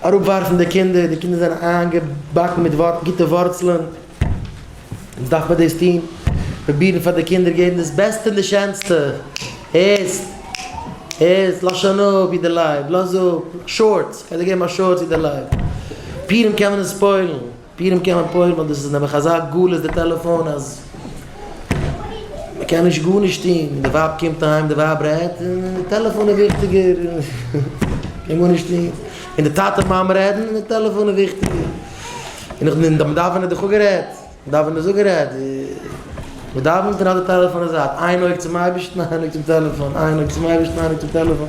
אראפווארפן די קינדער, די קינדער זענען איינגעבאקן מיט גוטע ווארצלען, אונז דארף מען דאס טון, פרובירן פאר די קינדער געבן דאס בעסטע און די שענסטע, הערסט? הערסט? לאז שוין אפ ווי די לייב, לאז אפ, שארטס, כ'וועל דיר געבן א שארטס ווי די לייב, פורים קען מען עס ספוילן. פירן קען מען פוירן ווייל דאס איז נעבעך אזא גלות די טעלעפאון אז מ'קען נישט גארנישט טוהן די ווייב קומט אהיים די ווייב רעדט און די טעלעפאון איז וויכטיגער מ'קען גארנישט טוהן און די טאטע מאמע רעדן און די טעלעפאון איז וויכטיגער און נאך דעם דאווענען איז דאך אפגערעדט דאווענען איז אפגערעדט מ'דאווענט און האט די טעלעפאון אין זייט איין אויג צום אייבערשטן איין אויג צום טעלעפאון איין אויג צום אייבערשטן איין אויג צום טעלעפאון.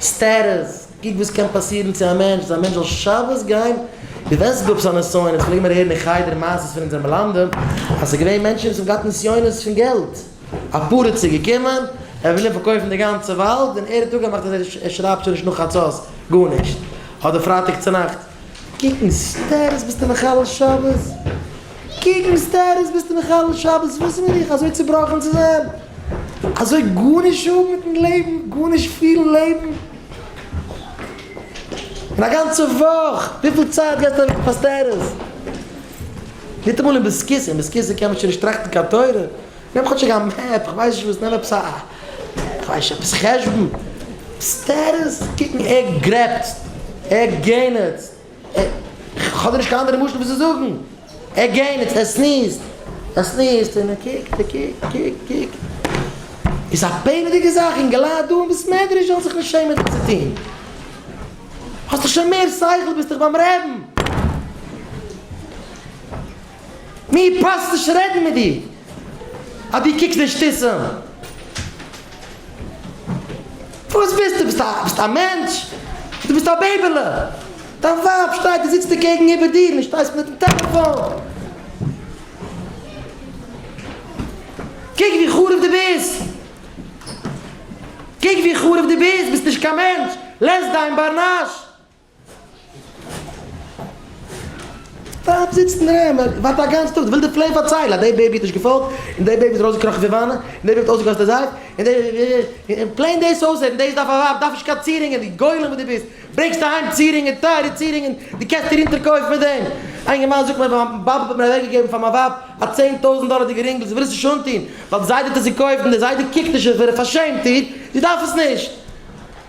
סטעטוס, קוק וואס קען פאסירן צו א מענטש אז א מענטש זאל שבת גיין, דו וועסט גאב זיין נסיונות, פלעגן מיר הערן אין חדר מעשות פון אונזערע מלמדים, אז ס'איז געווען מענטשן וואס האבן געהאט נסיונות פון געלט, א פרץ איז געקומען, ער וויל אים פארקויפן די גאנצע וואלד, און ער האט אפגעמאכט אז ער שרייבט שוין נישט נאך חצות גארנישט, אדער פרייטאג צונאכט. קוקן סדרות ביסטו מחלל שבת? קוקן סדרות ביסטו מחלל שבת? וואס בין איך אזוי צובראכן צו זיין? אזוי גארנישט האבן מיטן לעבן? גארנישט פילן לעבן? און א גאנצע וואך וויפיל צייט גייסטו אוועק פאר סדרות? ניטאמאל אין ביסקיסע, אין ביסקיסע קען מען שוין נישט טראכטן קיין תורה. נעם כאטשיג א מעפ, כ'ווייס נישט וואס, נעם עפעס א, כ'ווייס נישט, עפעס חשבון, עפעס תירוץ, קוקן ער גרעבצט, ער גענעצט, כ'האב דיר נישט קיין אנדערע משל ווי צו זאגן, ער גענעצט, ער סניזט, ער סניזט, און ער קוקט, ער קוקט, קוקט, קוקט, איז א פלא'דיגע זאך, אינגעלייט דא אין בית מדרש זאלן זיך נישט שעמען דאס צו טון, האסט דאך שוין מער שכל, ביסט דאך ביים רעבן. מיר פאסט נישט רעדן מיט דיר אז דו קוקסט נישט פיסען. וואס ביסטו? ביסט א ביסט א מענטש? דו ביסט א בעיבעלע. דיין ווייב שטייט און זיצט אקעגן איבער דיר און שטייסט מיטן טעלעפאן. קוק ווי חרוב דו ביסט. קוק ווי חרוב דו ביסט. ביסט נישט קיין מענטש. לעז דיין בר נש. ווארט זיצט אין רעם און ווארט א גאנץ טאג, וויל די פלען פארציילן אז דעי בעיבי האט נישט געפאלגט, און דעי בעיבי איז ארויסגעקראכן פון וואנע, און דעי בעיבי האט אויסגעגאסן די זייף, און דעי און און פלען דאס אויסרעדן, דאס דארף א ווייב, דארף נישט קיין צירינגען, די גולם וואס דו ביסט, ברענגסט אהיים צירינגען, טייערע צירינגען, דו קענסט דיר אונטערקויפן מיט דעם, א אינגערמאן זאגט מיר מיין באבע האט מיר אוועקגעגעבן פאר מיין ווייב א צען טויזנט דאלערדיגע רינגל, זי וויל עס נישט אנטון, ווייל די זיידע האט עס געקויפט, און די זיידע קוקט נישט אויף איר, עס פארשעמט איר, זי דארף עס נישט.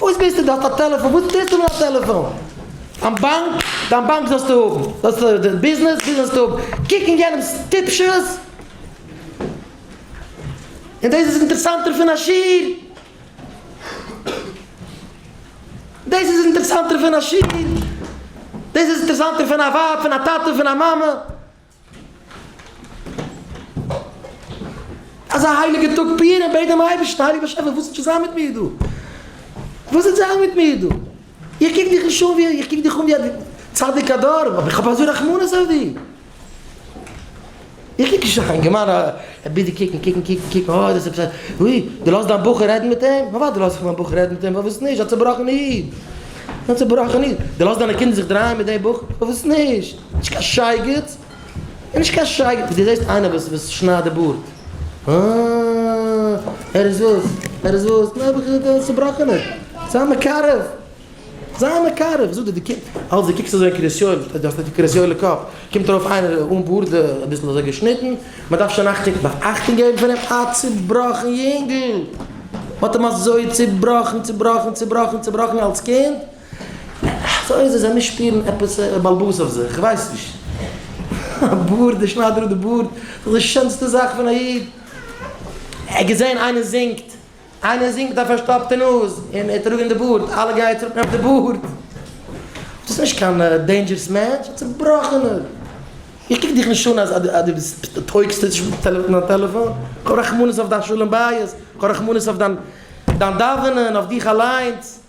וואס ביסטו דארט א טעלעפאן וואס טוסטו מיט א טעלעפאן דיין באנק דיין באנק זאלסטו האבן זאלסטו דיין ביזנעס ביזנעס זאלסטו האבן קוק אין יענעמס טיפשות און דאס איז אינטערסאנטער פון א שיעור דאס איז אינטערסאנטער פון א שיעור דאס איז אינטערסאנטער פון א ווייב פון א טאטע פון א מאמע. אזא הייליגע טאג פורים בעט דעם אייבערשטן הייליגער באשעפער וואס וועט שוין זיין מיט מיר דא? וואס וועט זיין מיט מיר דא? איך קוק דיך נישט אן ווי, איך קוק דיך אן ווי א צדיק הדור, אבער איך האב אזוי רחמנות אויף דיר. איך קוק נישט אזא יונגערמאן א ביטע קוקן קוקן קוקן קוקן אוי דאס איז עפעס א אוי דו לאזט דיין בחור רעדן מיט אים? נו וואדע לאז איך מיין בחור רעדן מיט אים, פארוואס נישט? א צובראכענע איד, א צובראכענע איד, דו לאזט דיינע קינדער זיך דרייען מיט דעם בחור? פארוואס נישט? נישט קיין שייגעץ, און נישט קיין שייגעץ, דו זעסט איינער וואס וואס שניידט די בארד? אה, ער איז וואס? ער איז וואס? נעבעך איז ער דער צובראכענער. זיי מקרב, זיי מקרב. איך זאג דיר, דו קוק, אלץ דו קוקסט אזוי אין קרית יואל, דו האסט די קרית יואל'ע קאפ, קומט ארויף איינער אן בארד, אביסל אזוי געשניטן, מען דארף שוין אכטונג, נאר אכטונג געבן פון אים, א צובראכן יונגל! מען האט אים אזוי צובראכן, צובראכן, צובראכן, צובראכן אלץ קינד. סאו אויב זיי זיי מיר שפירן עפעס בלבוז אויף זיך, כ'ווייס נישט. א בארד, דער שניידער האט די בארד, ס'איז דאך די שענסטע זאך פון א איד. ער געזען איינער זינגט, איינער זינגט מיט א פארשטאפטע נאז און ער טראגען די בארד, אלע גייען צוריק נעמען די בארד. דאס איז נישט קיין דעינדזשערס מענטש, א צובראכענער. איך קוק דיך נישט אן אז אז דו ביסט דו טויגסט נישט מיט דיין טעלעפאן. כ'האב רחמנות אויף דיין שלום בית, כ'האב רחמנות אויף דיין דיין דאווענען, אויף דיך אליינס.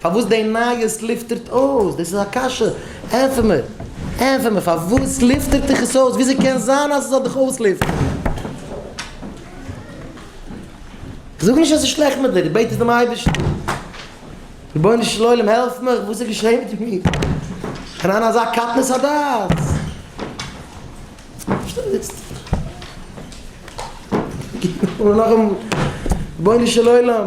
פארוואס די נייעס לופטערט אויס? דאס איז א קשיא. ענפער מיר. ענפער מיר. פארוואס לופטערט דיך עס אויס? וויאזוי קען זיין אז עס זאל דיך אויסלופטערן? זאג נישט אז עס איז שלעכט מיט דיר. בעט עס דעם אייבערשטן. רבונו של עולם העלף מיך. וואס איז געשעהן מיט מיר? איך בין אין אזא קטנות הדעת. שטעל דיר צו. רבונו של עולם.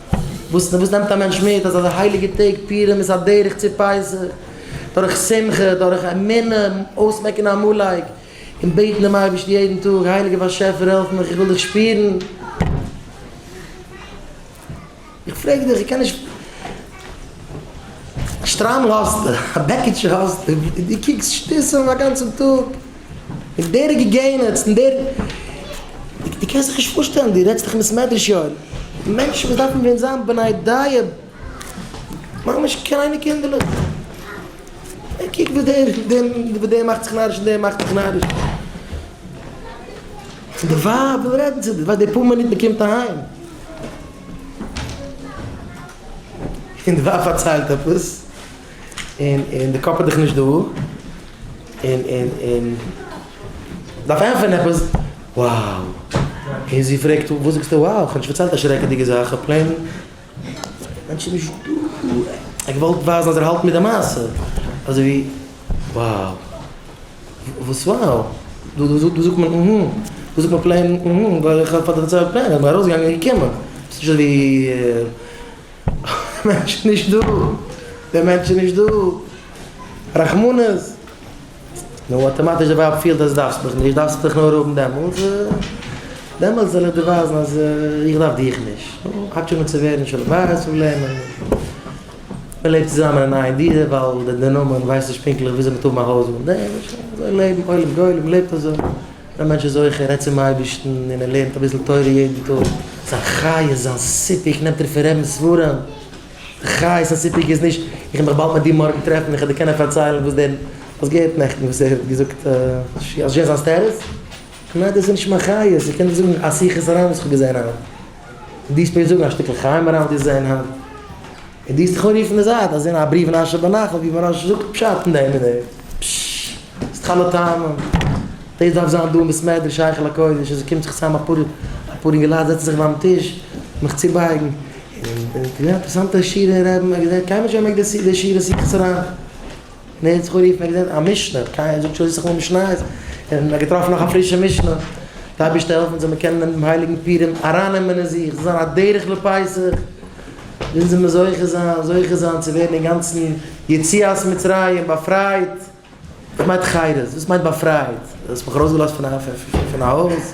וואס נעמט א מענטש מיט אז אזא הייליגע טעג פירן איז א דרך צו פסח, דורך שמחה, דורך אמונה, אויסמעקן עמלק, און בעטן דעם אייבערשטן יעדן טאג, הייליגער באשעפער העלף מיך איך וויל דיך שפירן. איך פרעג דיך, איך קען נישט. שטריימל האסטו, א בעקיטשע האסטו, דו קוקסט שטותים א גאנצן טאג. און דער איז געגענעצט און דער דו קענסט זיך נישט פארשטעלן דו רעדסט דאך מיט סמעדרעש יואל מענטשן וואס דארפן ווען זיין בני דייע ממש קליינע קינדערלעך און קוק ווי דער ווי דער מאכט זיך נאריש און דער מאכט זיך נאריש און די ווייב וויל רעדן צו דיר ווייל די פאר מינוט מען קומט אהיים און די ווייב פארציילט עפעס. און און די קאפ איז דיך נישט דא און און און דארף ענטפערן עפעס wow און זי פרעגט וואס זאגסטו wow איך האב נישט פארציילט א שרעקעדיגע זאך איך האב פלעין מענטש איז נישט דא איך וואלט ווייזן אז ער האלט מיט די מעשה אזוי ווי wow וואס wow דא דא דא זאגט מען אהמ דא זאגט מען פלעין אהמ ווייל איך האב פארציילט פלעין איך בין ארויסגעגאנגען און געקומען ס'נישט אזוי ווי. דער מענטש איז נישט דא, דער מענטש איז נישט דא, רחמנות. נו, אטאמאטיש דער ווייב פילט אז דו דארפסט מיך נישט, דארפסטו דיך נאר האבן דעמאלטס, דעמאלטס וועל איך דיר ווייזן אז איך דארף דיך נישט. נו, האט שוין אן צו ווערן שלום בית פראבלעמען, מען לעבט צוזאמען אין איין דירה ווייל דער נאמען ווייסט נישט פונקטליך וויאזוי מען טאר האבן א הויז מיט דעם, אזוי לעבן עולם גולם לעבט אזוי. ווען מענטש איז זוכה ער רעדט צום אייבערשטן און ער לערנט אביסל תורה יעדן טאג, זיין חיות זיין סיפוק נעמט ער פון רעדן ספרים, די חיות און סיפוק איז נישט איך וועל מיך באלד מיט דיר מארגן טרעפן איך וועל דיר קענען פארציילן וואס דער האסט געהערט נעכטן וואס ער האט געזאגט אויף זשע זיין סטעטוס, כ'מיין דאס איז נישט מיין חיות, איך קען דיר זאגן א שיחת הר ן וואס איך האב געזען היינט, דו דארפסט מיר זאגן א שטיקל חיים הר ן וואס דו האסט געזען היינט. און דו העסט זיך אנרופן אין די זייט אז אין א בריוו אין אשר בנחל ווי מוהרא ש זאגט פשט אין דעם און דעם. פששש. ס'איז תחלת טעמים. דאס דארף זיין דא אין בית מדרש היכל הקודש אז עס קומט זיך צוזאם אפאר אפאר אינגעלייט זעצן זיך ביים טיש מיך צובייגן און אינטערסאנטע שירה און רעדן. קיינמאל נישט געמעקט די שירה סידיס אריין. נער האט זיך אנגערופן ער האט געזען א משנה, קיין איינער זאגט שוין זיך אן משניות, און ער האט געטראפן נאך א פרישע משנה, די אייבערשטער העלף אונז זאל מיר קענען דעם הייליגן פורים ארייננעמען אין זיך, ס'זאל זיין א דרך לפסח, ווען זאל מען זוכה זיין, זוכה זיין צו ווערן אינגאנצן יציאת מצרים, באפרייט, וואס מיינט חירות? וואס מיינט באפרייט? דו האסט מיך ארויסגעלאזט פון א הויז.